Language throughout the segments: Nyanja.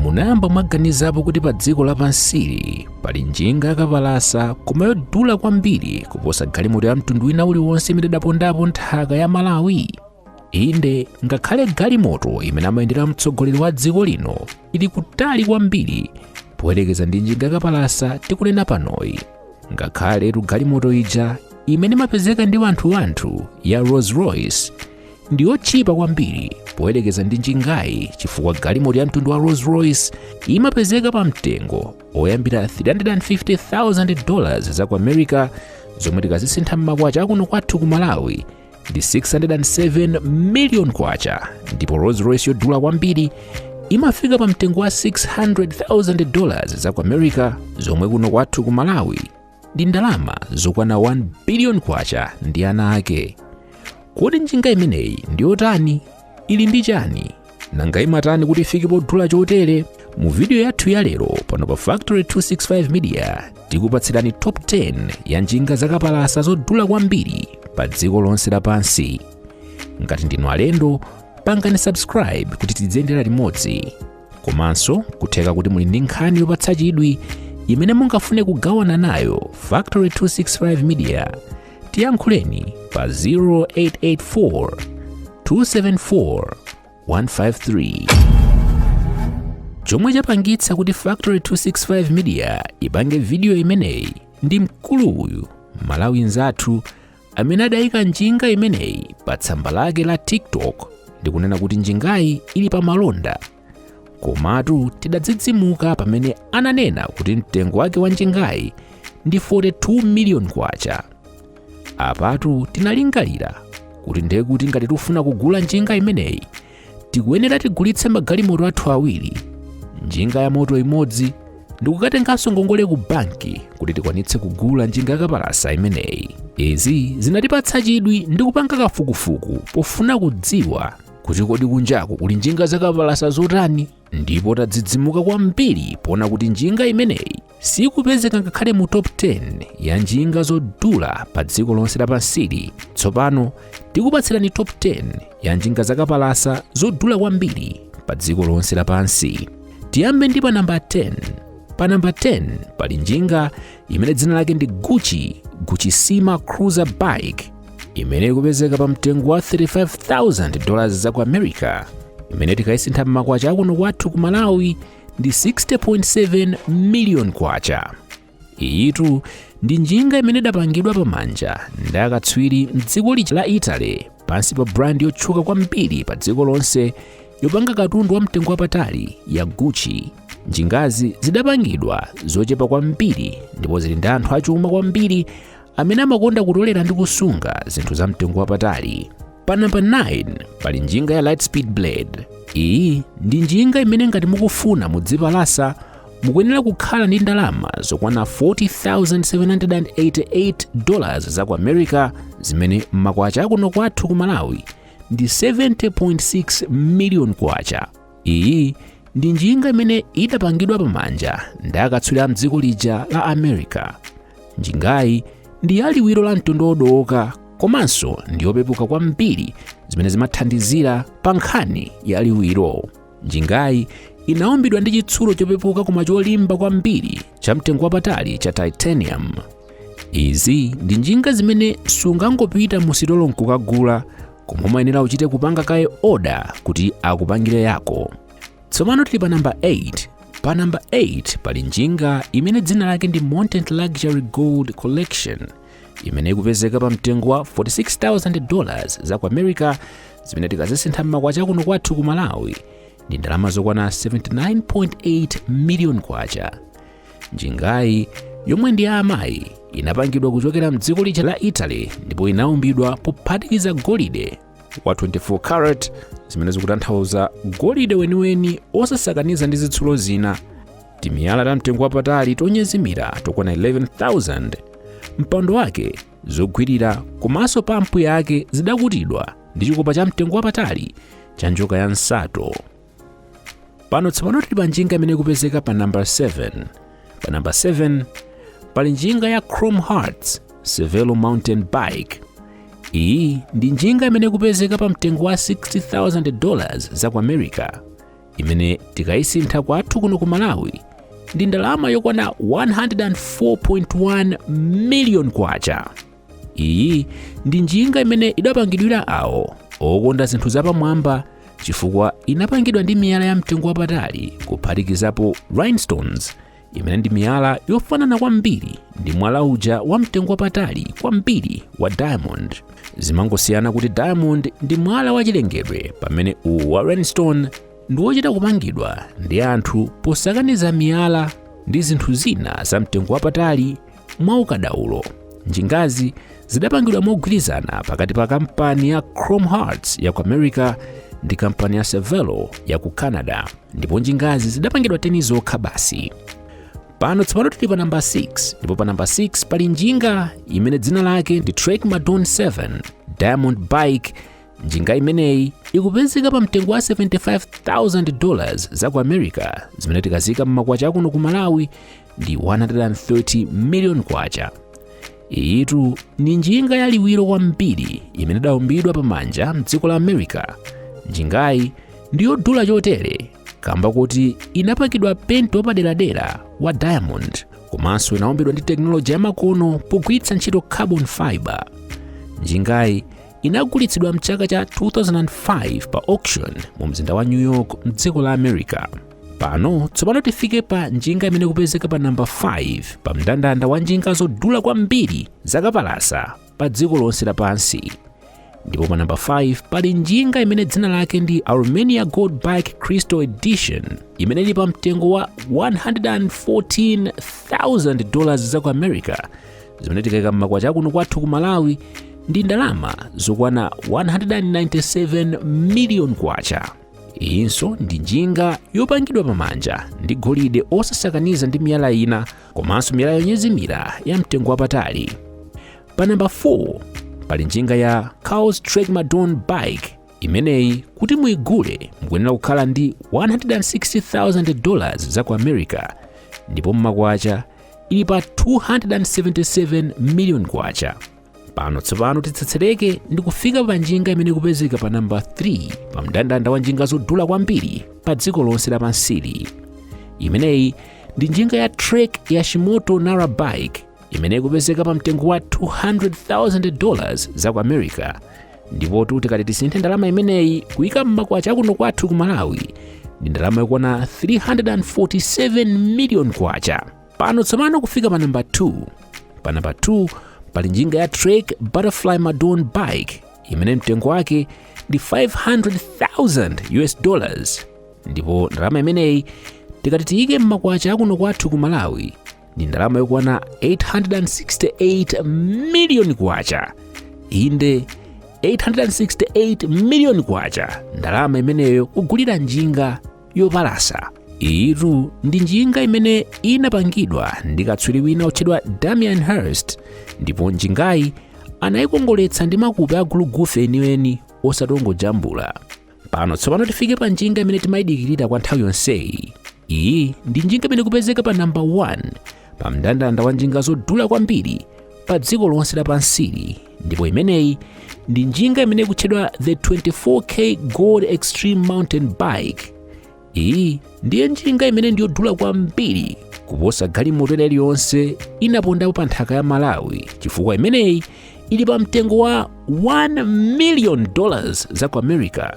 munayamba mwaganizapo kuti pa dziko lapansili pali njinga yakapalasa koma yodula kwambiri kuposa galimoto ya mtundu wina uliwonse imene idapondapo nthaka ya malawi inde ngakhale galimoto imene amayendera mtsogoleri wa dziko lino ili kutali kwambiri poyerekeza ndi njinga yakapalasa tikunena panoyi ngakhaletu galimoto ija imene imapezeka ndi wanthuwanthu ya rolls royce ndi yotchipa kwambiri poyerekeza ndi njingayi chifukwa galimoto ya mtundu wa Rolls Royce imapezeka pa mtengo oyambira 350,000 dollars za ku America zomwe tikazisintha m'makwacha akuno kwathu ku Malawi ndi 607 million kwacha ndipo Rolls Royce yodula kwambiri imafika pa mtengo wa 600,000 dollars za ku America zomwe kuno kwathu ku Malawi ndi ndalama zokwana 1 biliyoni kwacha ndi ana ake kodi njinga imeneyi ndi yotani ili ndi chani nanga imatani kuti ifike podula chotere mu vidiyo yathu ya lero pano pa factory 265 media tikupatsirani top 10 ya njinga zakapalasa zodula kwambiri pa dziko lonse lapansi ngati ndinu alendo pangani subscribe kuti tidziyendera limodzi komanso kutheka kuti muli ndi nkhani yopatsa chidwi imene mungafune kugawana nayo factory 265 media tiyankhuleni pa 0884 274 153 chomwe chapangitsa kuti factory 265 media ipange vidiyo imeneyi ndi mkulu uyu mmalawi nzathu amene adayika njinga imeneyi pa tsamba lake la tiktok ndi kunena kuti njingayi ili pa malonda komatu tidadzidzimuka pamene ananena kuti mtengo wake wa njingayi ndi 42 miliyoni kwacha apatu tinalingalira kuti ndekuti ngati tifuna kugula njinga imeneyi tikuyenera tigulitse magalimoto athu awiri njinga ya moto imodzi ndikukatenganso ngongole ku banki kuti tikwanitse kugula njinga yakapalasa imeneyi izi zinatipatsa chidwi ndi kupanga kafukufuku pofuna kudziwa kuti kodi kunjaku kuli njinga zakapalasa zotani ndipo tadzidzimuka kwambiri poona kuti njinga imeneyi sikupezeka ngakhale mu top 10 ya njinga zodula pa dziko lonse lapansili tsopano tikupatsirani top 10 ya njinga zakapalasa zodula kwambiri pa dziko lonse lapansi tiyambe ndi pa namba 10 pa namba 10 pali njinga imene dzina lake ndi gucci guccissima cruiser bike imene ikupezeka pa mtengo wa 35,000 dollars za ku america imene tikayisintha m'makwacha akuno kwathu ku malawi ndi 60.7 million kwacha iyitu ndi njinga imene idapangidwa pamanja ndi akatswiri mdziko lija la italy pansi pa brand yotchuka kwambiri pa dziko lonse yopanga katundu wa mtengo wapatali ya gucci njingazi zidapangidwa zochepa kwambiri ndipo zili ndi anthu achuma kwambiri amene amakonda kutolera ndi kusunga zinthu za mtengo wapatali. Pa namba 9 pali njinga ya Litespeed Blade. Iyi ndi njinga imene ngati mukufuna mudziipalasa mukuyenera kukhala ndi ndalama zokwana 40,788 dollars za ku America zimene m'makwacha akuno kwathu ku Malawi ndi 70.6 million kwacha. Iyi ndi njinga imene idapangidwa pamanja ndi akatswiri m'dziko lija la America. Njingayi ndi ya liwiro la mtundu wodowoka komanso ndi yopepuka kwambiri zimene zimathandizira pa nkhani ya liwiro. Njingayi inaumbidwa ndi chitsulo chopepuka koma cholimba kwambiri cha mtengo wapatali cha titanium. Izi ndi njinga zimene sungangopita mu sitolo nkukagula koma umayenera uchite kupanga kaye oda kuti akupangire yako tsopano tili pa namba 8 pa namba 8 pali njinga imene dzina lake ndi montante luxury gold collection imene ikupezeka pa mtengo wa 46000 dollars za ku america zimene tikazisintha m'makwacha kuno kwathu ku malawi ndi ndalama zokwana 79.8 million kwacha Njingayi yomwe ndi ya amayi inapangidwa kuchokera mdziko lija la Italy ndipo inaumbidwa pophatikiza golide wa 24 carat zimene zikutanthauza golide weniweni osasakaniza ndi zitsulo zina timiyala ta mtengo wapatali tonyezimira tokwana 11000 mpando wake zogwirira komanso pampu yake zidakutidwa ndi chikopa cha mtengo wapatali cha njoka ya nsato pano tsopano tili pa njinga imene ikupezeka pa namba 7 pa namba 7 pali njinga ya chrome hearts cervelo mountain bike iyi ndi njinga imene ikupezeka pa mtengo wa 60000 dollars za ku america imene tikayisintha kwathu kuno ku malawi ndi ndalama yokwana 104.1 million kwacha iyi ndi njinga imene idapangidwira awo okonda zinthu zapamwamba chifukwa inapangidwa ndi miyala ya mtengo wapatali kuphatikizapo rhinestones imene ndi miyala yofanana kwambiri ndi mwala uja wa mtengo wapatali kwambiri wa diamond zimangosiyana kuti diamond ndi mwala wachilengedwe pamene uwu wa rhinestone ndi wochita kupangidwa ndi anthu posakaniza miyala ndi zinthu zina za mtengo wapatali Mwaukadaulo, njingazi zidapangidwa mogwirizana pakati pa kampani ya Chrome Hearts ya ku America ndi kampani ya Cervelo ya ku Canada ndipo njingazi zidapangidwa teni zokha basi. Pano tsopano tili pa namba 6 ndipo pa namba 6 pali njinga imene dzina lake ndi Trek Madone 7 Diamond Bike. Njinga imeneyi ikupezeka pa mtengo wa 75,000 dollars za ku America zimene tikazika m'makwacha akuno ku Malawi ndi 130 miliyoni kwacha iyitu ndi njinga yaliwiro kwambiri imene idaumbidwa pamanja mdziko la america njingayi ndi yodula chotere kamba kuti inapakidwa penti wapaderadera wa diamond komanso inaumbidwa ndi tekinoloji yamakono pogwiritsa ntchito carbon fiber njingayi inagulitsidwa mchaka cha 2005 pa auction mu mzinda wa new york mdziko la america pano tsopano tifike pa njinga imene ikupezeka pa namba 5 pa mndandanda wa njinga zodula kwambiri zakapalasa pa dziko lonse lapansi ndipo pa namba 5 pali njinga imene dzina lake ndi aurumania gold bike crystal edition imene ili pa mtengo wa 114,000 dollars za ku america zimene tikaika m'makwacha akuno kwathu ku malawi ndi ndalama zokwana 197 million kwacha Iyinso ndi njinga yopangidwa pamanja ndi golide osasakaniza ndi miyala ina komanso miyala yonyezimira ya mtengo wapatali. Pa namba 4 pali njinga ya Kaws Trek Madone Bike. Imeneyi kuti muigule mukuyenera kukhala ndi 160,000 dollars za ku America ndipo mmakwacha ili pa 277 million kwacha. pano tsopano titsetsereke ndi kufika pa njinga imene ikupezeka pa namba 3 pa mndandanda wa njinga zodula kwambiri pa dziko lonse lapansili imeneyi ndi njinga ya trek yoshitomo nara bike imene ikupezeka pa mtengo wa 200,000 dollars za ku america ndipo tuti kati tisinthe ndalama imeneyi kuyika m'makwacha akuno kwathu ku malawi ndi ndalama yokwana 347 million kwacha pano tsopano kufika pa namba 2 pa namba 2 pali njinga ya trek butterfly madone bike imene mtengo wake ndi 500,000 us dollars ndipo ndalama imeneyi tikati tiyike m'makwacha akuno kwathu ku malawi ndi ndalama yokwana 868 miliyoni kwacha inde 868 miliyoni kwacha ndalama imeneyo kugulira njinga yopalasa iyitu ndi njinga imene inapangidwa ndi katswiri wina wotchedwa damien hirst ndipo njingayi anayikongoletsa ndi makupe agulugufe eniweni osati ongojambula pano tsopano tifike pa njinga imene timayidikirira kwa nthawi yonseyi iyi ndi njinga imene ikupezeka pa namba 1 pa mndandanda wa njinga zodula kwambiri pa dziko lonse lapansi lino ndipo imeneyi ndi njinga imene ikutchedwa the 24k gold extreme mountain bike iyi ndiye njinga imene ndiyodula kwambiri kuposa galimoto ina iliyonse inapondapo pa nthaka ya malawi chifukwa imeneyi ili pa mtengo wa 1 million dollars za ku america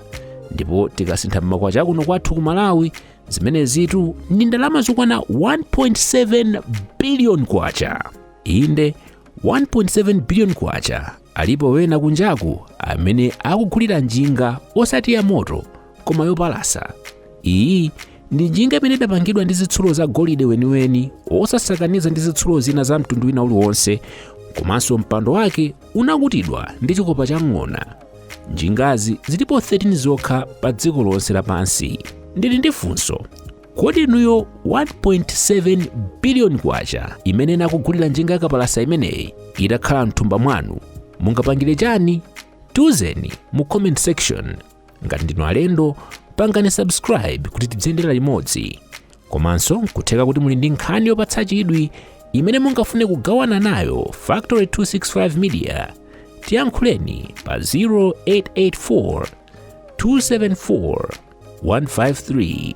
ndipo tikasintha mmakwacha akuno kwathu ku malawi zimenezitu ndi ndalama zokwana 1.7 billion kwacha inde 1.7 billion kwacha alipo wena kunjaku amene akugulira njinga osati ya moto koma yopalasa iyi ndi njinga imene idapangidwa ndi zitsulo za golide weniweni osasakaniza ndi zitsulo zina za mtundu wina uliwonse komanso mpando wake unakutidwa ndi chikopa cha ng'ona. Njingazi zilipo 13 zokha pa dziko lonse lapansi. Ndili ndi funso, kodi inuyo 1.7 biliyoni kwacha imene inakugulira njinga yakapalasa imeneyi itakhala mthumba mwanu mungapangire chani? Tiuzeni mu comment section. ngati ndinu alendo pangani subscribe kuti tidziyendera limodzi komanso nkutheka kuti muli ndi nkhani yopatsa chidwi imene mungafune kugawana nayo factory 265 media tiyankhuleni pa 0884 274 153